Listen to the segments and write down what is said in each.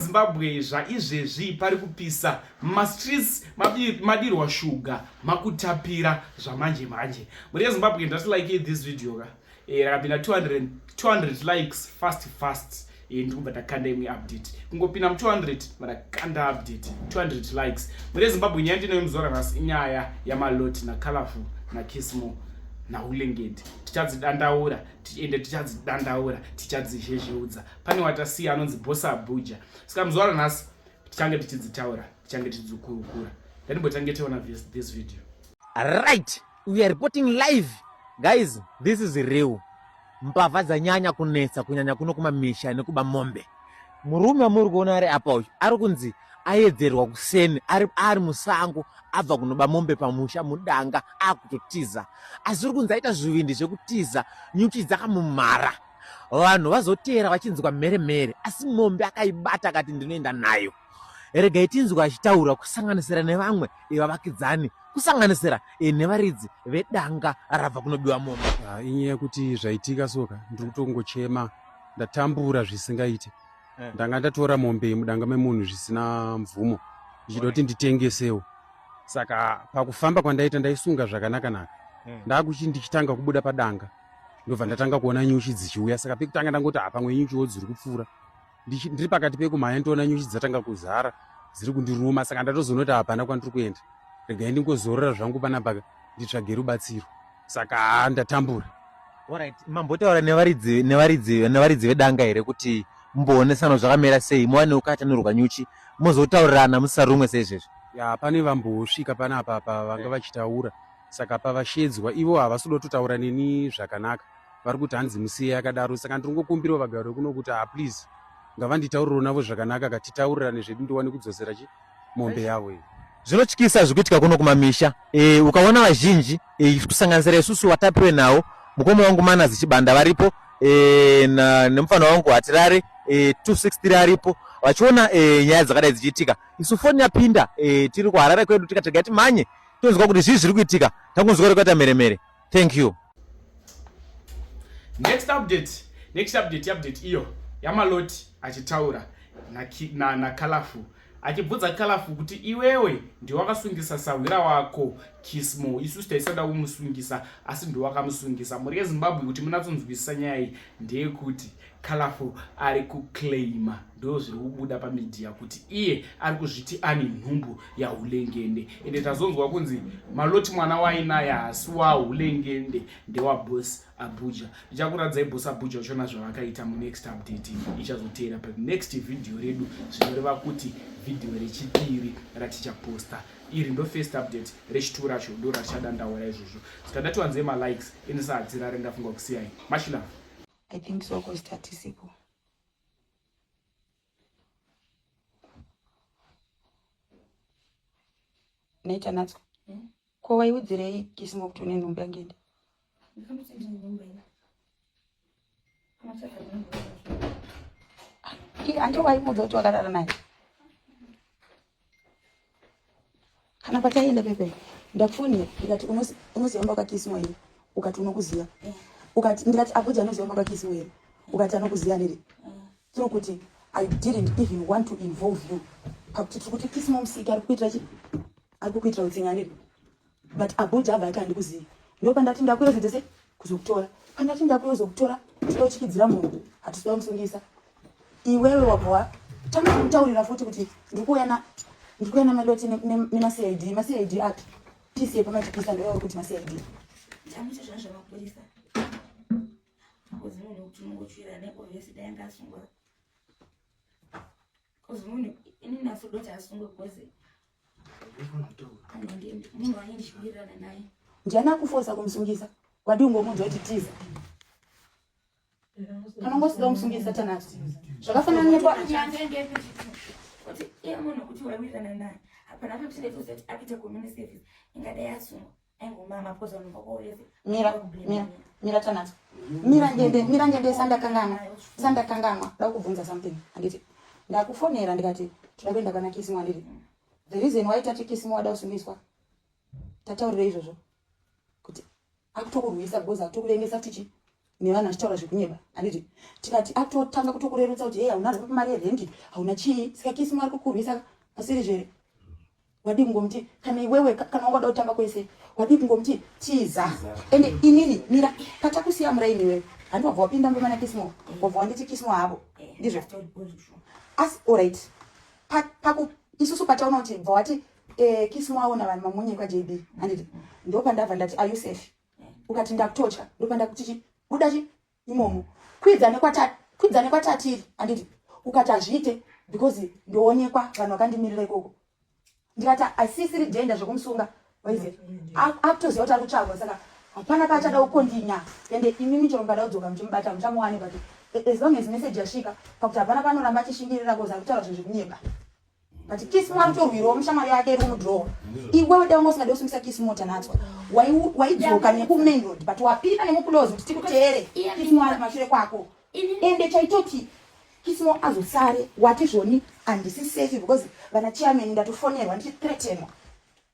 Zimbabwe zvaizvezvi pari kupisa mumastreets madirwa shuga makutapira zvamanje manje muri yezimbabwe ndati like this video ka eh, rakapinda 200, 200 likes fast fast eh, ndikubva takanda imwe update kungopinda mu 200 vatakanda update 200 likes muri yezimbabwe nyaya ndinoyo muzora nhasi inyaya yamalot nacolorful nakismo naulengedi tichadzidandaura tiende tichadzidandaura tichadzizhezheudza pane watasiya anonzi bosa abuja saka muzuva ranhasi tichange tichidzitaura tichange tichidzikurukura ndanimbotange tiona this video right we are reporting live guys this is real mbavha dzanyanya kunetsa kunyanya kuno kumamisha nekuba mombe murume wamuri kuona ari apa uyu ari kunzi ayedzerwa kuseni ari, ari musango abva kunoba mombe pamusha mudanga akutotiza asi uri kunzi aita zvivindi zvekutiza nyuchi dzakamumhara vanhu vazoteera vachinzwa mhere mhere asi mombe akaibata akati ndinoenda nayo regai tinzwa achitaura kusanganisira nevamwe vavakidzani kusanganisira eh, nevaridzi vedanga rabva kunobiwa mombe ah, inyaya kuti zvaitika soka ndiri kutongochema ndatambura zvisingaite eh. ndanga ndatora mombe yemudanga memunhu zvisina mvumo ndichida kuti nditengesewo saka pakufamba kwandaita ndaisunga zvakanaka naka eh. ndakuti ndichitanga kubuda padanga ndobva ndatanga kuona nyuchi dzichiuya saka pekutanga ndangoti ha pamwe nyuchiwo dziri kupfuura ndiri pakati pekumhanya ndoona nyuchi dzatanga kuzara dziri kundiruma saka ndatozoona kuti hapana kwandiri kuenda regai ndingozorora zvangu panapaka nditsvage rubatsiro saka ha ndatambura orit mambotaura nevaridzi nevaridzi nevaridzi vedanga here kuti mumboonesana zvakamira sei muwane ukatanurwa nyuchi mozotaurirana musarumwe seizvezvi ya pane vambosvika panapa pa vanga vachitaura saka pavashedzwa ivo havasi kuda kutotaura neni zvakanaka vari kuti hanzi musiye akadaro saka ndiri kungokumbirawo vagari vekuno kuti ha ah, please ngavanditauriro navo zvakanaka katitaurirane zvedu ndiwane kudzosera chi mombe yavo iyi zvinotyisa zvikuitika kuno kumamisha e, ukaona vazhinji e, kusanganisira isusu watapiwe nawo mukoma wangu manazi chibanda varipo e, na, nemufana wangu hatirare e, 263 aripo vachiona e, nyaya dzakadai dzichiitika isu foni yapinda e, tiri kuharare kwedu tikatega timanye tonzwa kuti zvii zviri kuitika takunzwa kuti kwaita mheremhere thank you next update next update update iyo yamaloti achitaura nakalafu na, na achibvudza kalafu kuti iwewe ndiwakasungisa sahwira wako kismo isu taisada kumusungisa asi ndiwakamusungisa mhuri yezimbabwe kuti munatsonzwisisa nyaya iyi ndeyekuti Colorful ari kuclaima ndo zviri kubuda pamedia kuti iye ari kuzviti ane nhumbu yahulengende ende tazonzwa kunzi maloti mwana wainaye hasi wahulengende ndewabos abuja ndichakuradzai bos abuja uchona zvavakaita munext update ichazoteera but next vhidhiyo redu zvinoreva kuti vhidhiyo rechipiri ratichaposta iri ndo first update rechituu racho ndo ratichadandaura izvozvo saka ndatiwanzei malikes ini sahadzirare ndafunga kusiyai mashilava I think so cause tatisipo. Naita natso. Hmm? Ko waiudzirei kisimo kuti une nhumbu yangende? Andi waiudza kuti wakarara naye. kana pataienda pepe ndakufoni ndikati unoziva mba kwakisiwa here ukati unokuziva ukati ndikati akuti anoziva mba kwakisiwa here ukati anokuziva nere tiri kuti i didn't even want to involve you pakuti tiri kuti kisiwa musiki ari kukuitira chi ari kukuitira utsinga nere but abuja abva ati handikuzivi ndopandati ndakuyozodzese kuzokutora pandati ndakuyozokutora tinochikidzira munhu hatisi wamusungisa iwewe wabva watanga kutaurira futi kuti ndikuuyana ndikuuyana maloti nemacid macid api pisi yepamachipisa ndoyawe kuti macid chamucho zvazvamapurisa akozimunhu kuti unongotsvira nekovhesi dai ngasungwa Cause munhu ini naso doti asungwe cause munhu wanye ndichiwirirana naye. Ndiani akufosa kumusungisa? Wadi ungomunzwa kuti tiza. Kana ungosida kumusungisa tanasi. Zvakafanana nepa kuti iye munhu kuti wawirirana naye. Hapana kuti tine kuti apite community service ingadai asungwa. mira mira mira tanadzo mira ngende mira ngende sandakanganwa sandakanganwa ndakubvunza something anditi ndakufonera ndikati tinoda kuenda kana kisimu anditi the reason why tati kisimu wada kusumiswa tataurira izvozvo kuti akutokurwisa because akutokurengesa tichi nevanhu vachitaura zvekunyeba handiti tikati atotanga kutokurerutsa kuti hei hauna zvapo mari yerendi hauna chii saka kisi mwari kukurwisa asiri zvere wadii kungomuti kana iwewe kana wangada kutamba kwese wadii kungomuti tiza ende inini mira patakusiya muraini iwewe handi wabva wapinda mumba mana kisimo wabva wanditi kisimo havo ndizvo asi orit paku isusu pataona kuti bva wati eh, kisimo aona vanhu mamunye kwajb handiti ndopandabva ndati are you safe ukati ndakutotya ndopanda kuti chi buda chi imomo kwidza nekwatati kwidza nekwatatiiri anditi ukati hazviite because ndoonekwa vanhu vakandimirira ikoko ndikati asisiri dhenda zvekumusunga waize akutoziva kuti ari kutsvagwa saka hapana paachada kukondinya ende imimi chero mukada kudzoka muchimubata muchamuwane but as long as message yasvika pakuti hapana panoramba achishingirira kozi ari kutaura zvinhu zvekunyepa but kiss mo anotorwirawo mushamwari yake iri kumudhirowa iwewe dai ungosingade kusungisa kiss mo tanatswa waidzoka nekumain road but wapinda nemukulozi kuti tikuteere kiss mo ari kumashure kwako ende chaitoti kiss mo azosare wati zvoni handisi safe because vana chairman ndatofonerwa ndichithreatenwa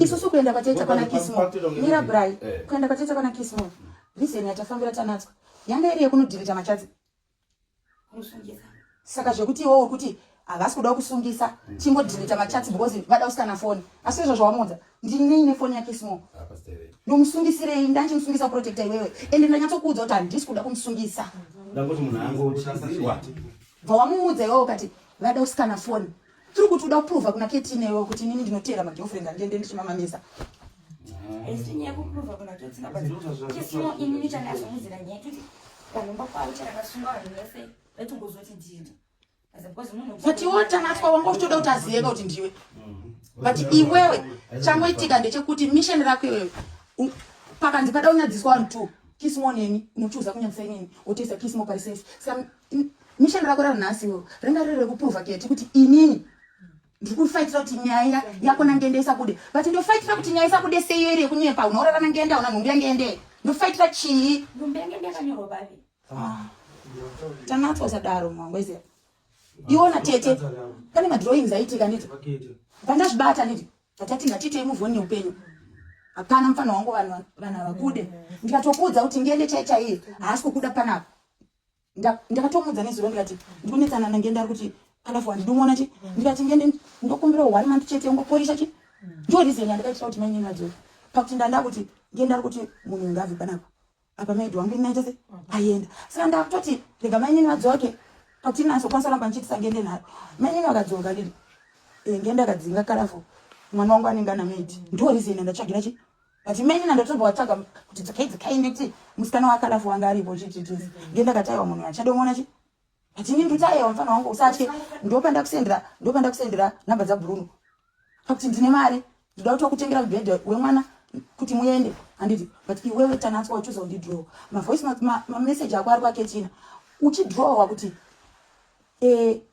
isusu kuenda kwatete kwana kismo mira bry eh. kuenda kwatete kwana kismo reason yatafambira tanatswa yanga iri yekunodhirita machadzi saka zvekuti iwo wekuti havasi kuda kusungisa hmm. chingodhirita machadzi because vada kusikana foni asi izvo zvawamuudza ndinei nefoni yakismo ndomusungisirei ndanchimusungisa protecta iwewe ende ndanyatsokuudza kuti handisi kuda kumusungisa bva wamuudza iwewe ukati vada kusikana foni tiri kuti uda kuprova kuna keti newe kuti inini ndinoteera magirlfriend andiende ndichimamamisa but iwe tanatwa wanga uchitoda kuti aziyeka kuti ndiwe but iwewe changoitika ndechekuti mission rako iwewe pakanzi pada unyadziswa vanhu two kisimo neni unochuza kunyadzisa inini wotoisa kisimo parisafe Mission rako ranhasi wo ringa riri rekuprova keti kuti inini ndiri kufaitira kuti nyaya yako nangende isabude but ndofaitira kuti nyaya isabude seiyo iri yekunyepa unourara nangende auna nhumbi yangende ndofaitira chii nhumbi yangende yakanyorwa bavi ah. tanatswa usadaro mwangwezi iona tete pane madrawings aitika niti pandazvibata niti atati ngatitei muvhoni neupenyu hapana mufana wangu vanhu vakude ndikatokuudza kuti ngende chaichaiye haasi kukuda panapa ndakatomuudza nezuro ndikati ndikunetsana nange ndari kuti kadafu handidimuona chi ndikati ngende ndokumbira one month chete ungoporisha chi ndo reason yandakaitira kuti mainini vadzoka pakuti ndanda kuti nge ndari kuti munhu ngavi panapa apa maidi wangu inaita se aienda saka ndakutoti rega mainini vadzoke pakuti inasokwanisa kuramba ndichiitisa ngende nharo mainini vakadzoka ndiri eh, ngende akadzinga kadafu mwana wangu anenge ana maidi ndo reason yandatsvagira chi but imene nandotombo watsvaga kuti dzikai dzikai nditi musikana wakalafu wanga aripo chititi ndiye ndakataiwa munhu achadomona chi but ini nditaiwa mfana wangu usatye ndopandakusendera ndopandakusendera number dzabruno pakuti ndine mari ndoda kuti wakutengera mubhedha wemwana kuti muende handiti but iwewe tanatswa uchuza undidrowa mavoice mameseji ako ari kwaketina uchidrowa kuti eh,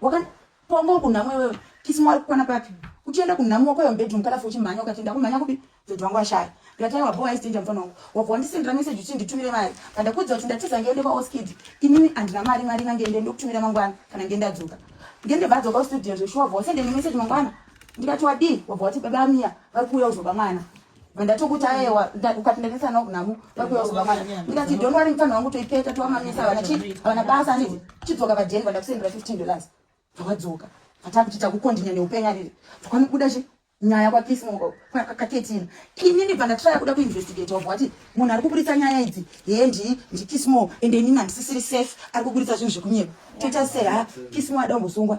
Wakapongwa kunhamo iwewe. Kisi mwari kukwana papi? Uchienda kunhamo wako yomubedroom kalafu uchimhanya ukati ndakumhanya kupi? Dhodhi wangu ashaya. Ndikati aiwa bowa isitenja mfana wangu. Wabva wandisendera message uchi nditumire mari. Pandakuudza kuti ndatiza ngende kwa Oskid. Inini andina mari mari inga ngende ndokutumira mangwana kana ngende adzoka. Ngende vadzoka studio zveshuwa wabva wasendera message mangwana. Ndikati wadii? Wabva wati baba Mia vari kuuya uzoba mwana. ndatokuti aewa ukati ndainesa nawo kunhamu vakuyauzwa mwana ndikati don't worry mfana wangu toipeta towamamisa havana chii havana basa anditi chidzoka padenva ndakusendera 15 dollars vakadzoka vataa kuti takukondinya neupenyu ariri vakanobuda chi nyaya kwakismo kaketina inini bva ndatraya kuda kuinvestigate wabva wati munhu ari kuburitsa nyaya idzi hee ndii ndikismo ende inini handisisiri safe ari kuburitsa zvinhu zvekunyepa toita sei ha kismo ada umbosungwa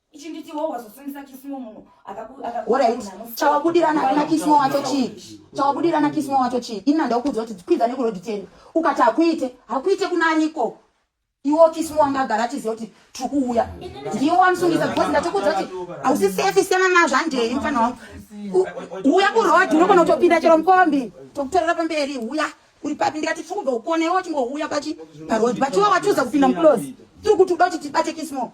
chawabudirana kuna kismo wacho chii chawabudirana kismo wacho chii inina ndakuudza kuti kwidza nekuroad ten ukati hakuite hakuite kunaniko iwo kismo wanga agara achiziva kuti tiri kuuya ndiwo wamusungisa because ndatokuudza kuti hausi safe siyana nazvo handei mfana wangu uya kuroad unogona kutopinda chero mukombi tokutorera pamberi uya uri papi ndikati tiri kubva ukone iwo chingouya pachi paroad but iwo watiudza kupinda muclose tiri kuti uda kuti tibate kismo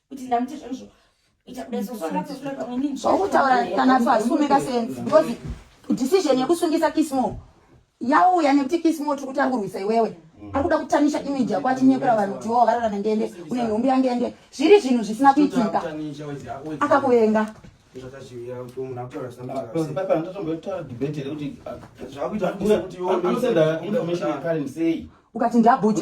kuti ndamuti zvoizvo zvokutaura kana pasume kasense because decision yekusungisa kismo yauya nekuti kismo tiri kuti angurwisa iwewe ari kuda kutanisha image yako atinyepera vanhu kuti wo varara nengende une nhumbi yangende zviri zvinhu zvisina kuitika akakuvenga ukati ndabhuta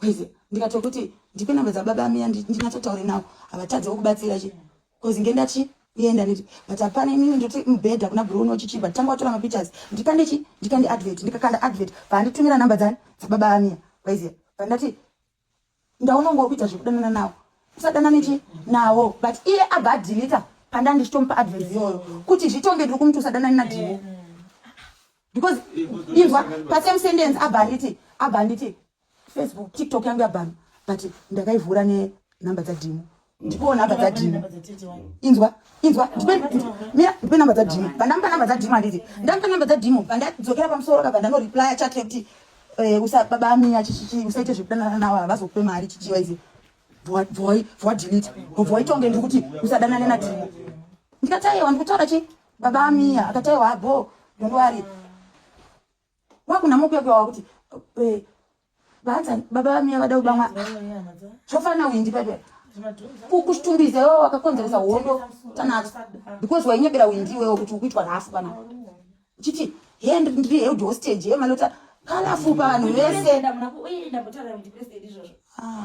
Cause ndikatokuti ndipe number dza baba miya ndinatsotaure nawo havatadze wokubatsira chi cause nge ndachi yenda niti but hapana imini ndoti mubhedha kuna bro unochichi but tanga watora mapictures ndikande chi ndikande advert ndikakanda advert paanditumira number dzani dzababa amiya waiziya pandati ndaona unge wakuita zvekudanana nawo usadanane chi nawo but iye abva adilita pandandisitomupa advert iyoyo kuti zvitonge ndiri kumuti usadanani nadhimo mm. because inzwa pasame sentence abhanditi abhanditi facebook tiktok yangu yabhanu but ndakaivhura nenumber dzadhimu ndipoo number dzadhimu inzwa inzwa mira ndipe number dzadhimu pandamupa number dzadhimu handiti ndamupa number dzadhimu pandadzokera pamusoro kabva ndanoreplya chat yekuti eh, usababa amiya chichichi usaite zvekudanana nawo havazokupe mari chichiwa izi bvoi bvoi bvoi tonge ndiri kuti usadanane nadhimu ndikataiwa ndikutaura chii baba amiya akati aiwa bho don't worry wakuna mokuyakwa wakuti eh, baadza baba vamiya vada kubamwa zvofanira kuindipa pe kukushtumbiza iwewe wakakonzeresa hondo tanacho because wainyebera windi iwewe kuti ukuitwa nhafu kana uchiti he ndiri held hostage yemalota kalafu pavanhu vese ah.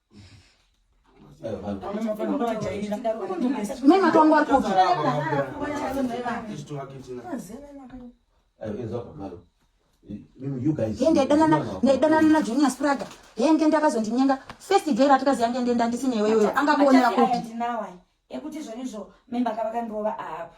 ndaidanana najunior spraga yenge ndakazondinyenga first day ratikazi yange ndenda ndisineweyoyo angakuonera kupi ekuti zvonizvo memba kavakandirova apa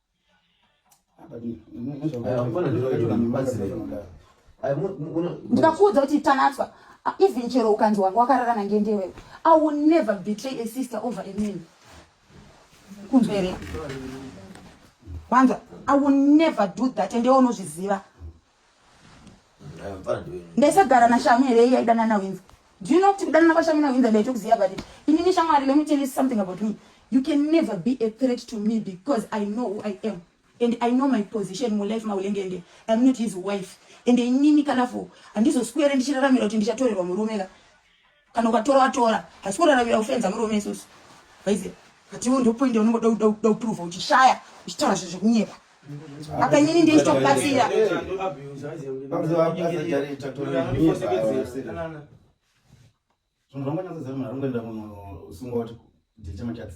ndikakuudza kuti tanatswa even chero ukanzi wanga wakararana ngendewewe i will never betray a sister over a man kunzwa here wanza i will never do that ende unozviziva ndaisagara nashamu here iye aidana nawinza do you know kuti kudanana kwashamu nawinza ndaitokuziva but inini shamwari let me tell you something about me you can never be a threat to me because i know who i am and i know my position mulife maulengende iam not his wife and inini kanafo handizoswere ndichiraramira kuti ndichatorerwa murume ka kana ukatora watora hasi kuraravira kufenza murume isusu vaize but iwo ndo point yaunongoda kuda kuda kuprova uchishaya uchitaura zvinhu zvekunyepa apa inini ndoita kubatsira zvinhu zvanganyatsoziva munhu arongoenda munhu usingoti ndichemachats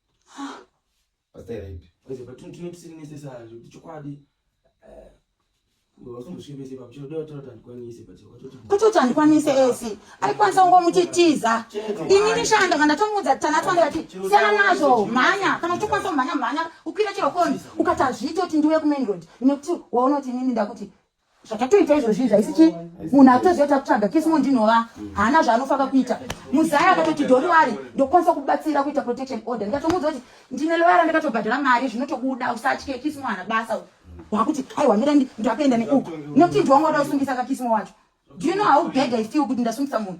Pastor right. Kwese patino tino tisiri necessary kuti chokwadi eh kutoti handikwanise esi aikwanisa kungomuti tiza ini ndishanda kana tomuudza tanatwa ndikati siyana nazvo mhanya kana uchikwanisa kumhanya mhanya ukwira chero koni ukati hazviiti kuti ndiuye kumain road nekuti waunoti inini ndakuti zvakatoita izvozvi zvaisi chii munhu akutoziva takutsvaga kismo ndinova haana zvaanofaka kuita muzaya akatoti doriwari ndokwanisa kubatsira kuita protection order ndikatomuudza kuti ndine loyara ndakatobhadhara mari zvinotokuda usatye kismo hana basa wakuti aiwa mira ndatoenda neuku notinji wanga uda kusungisa kakismo wacho do you know how bad i feel kuti ndasungisa munhu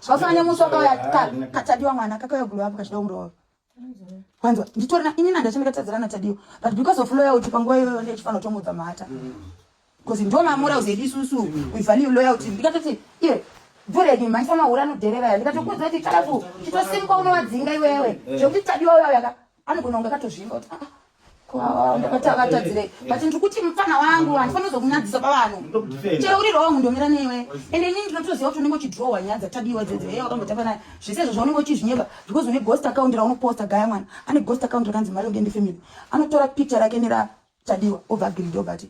zvasanya musi wakauya katadiwa mwana kakauya gulu apo kachida kumurova wanzwa nditorina ini nandachandikatadzirana tadiwa but because of loya uti panguva iyoyo ndichifanira kutomudza mhata bcause ndo mamora uzedi isusu uivhani loya uti ndikatoti iye bhureki mhaisa mahura anodherera ya ndikatokuudza kuti kalafu chitosimuka unowadzinga iwewe zvekuti tadiwa uya uyaka anogona kunge akatozvimba kuti ah, ah, ah, ndakatavatadzireyi but ndiri kuti mupfana wangu handifani kuzokunyadzisa pavanhu chero uri rong ndomira newe and ini ndinotoziva kuti unenge uchidrowa nyaya dzatadiwa dzedzo heye wakambotamba naye zvese izvo zvaunenge uchizvinyeba because une ghost account raunoposta gaya mwana ane ghost account rakanzi mari ungende family anotora picture rake neratadiwa obva agiridi obati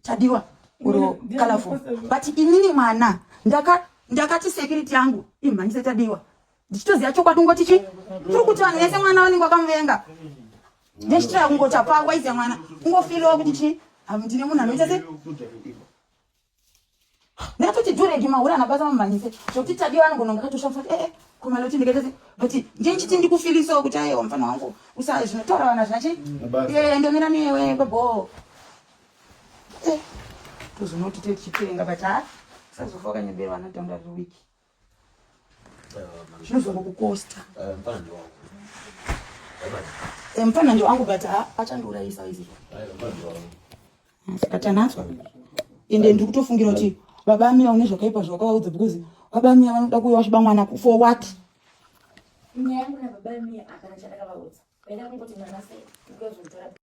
Tadiwa or colorful but inini mwana ndaka ndakati security yangu imhanyise Tadiwa ndichitoziva chokwadi ungoti chi tiri kuti vanhu vese mwana vanenge vakamuvenga ndechitira kungoti hapaa waiziva mwana ungofiriwa kuti chi ndine munhu anoita se Natoti dureki mahura anabasa mamhanyise zvokuti tadiwa anogona kunge katoshafa kuti ee eh, eh, kumaloti ndikatese but ndiye ndichiti ndikufilisawo kuti ayewa mfana wangu usa zvinotaura vana zvina chii ee eh, ndomira newe baboo tozonoti tetichitenga but ha usazofa wakanyeberwa anadhonda riri wiki Zvinozongo kukosta. Eh, mfana ndio wangu. Eh, mfana ndio wangu but ah, achandiurayisa izvi. Eh, mfana ndio wangu. Akatanaswa. Ende ndiri kutofungira kuti baba amira une zvakaipa zvawakaudza because baba amira vanoda kuuya vachiba mwana for what? Nyaya yangu na baba amira hapana chandakavaudza. Vaida kungoti mwana sei? Because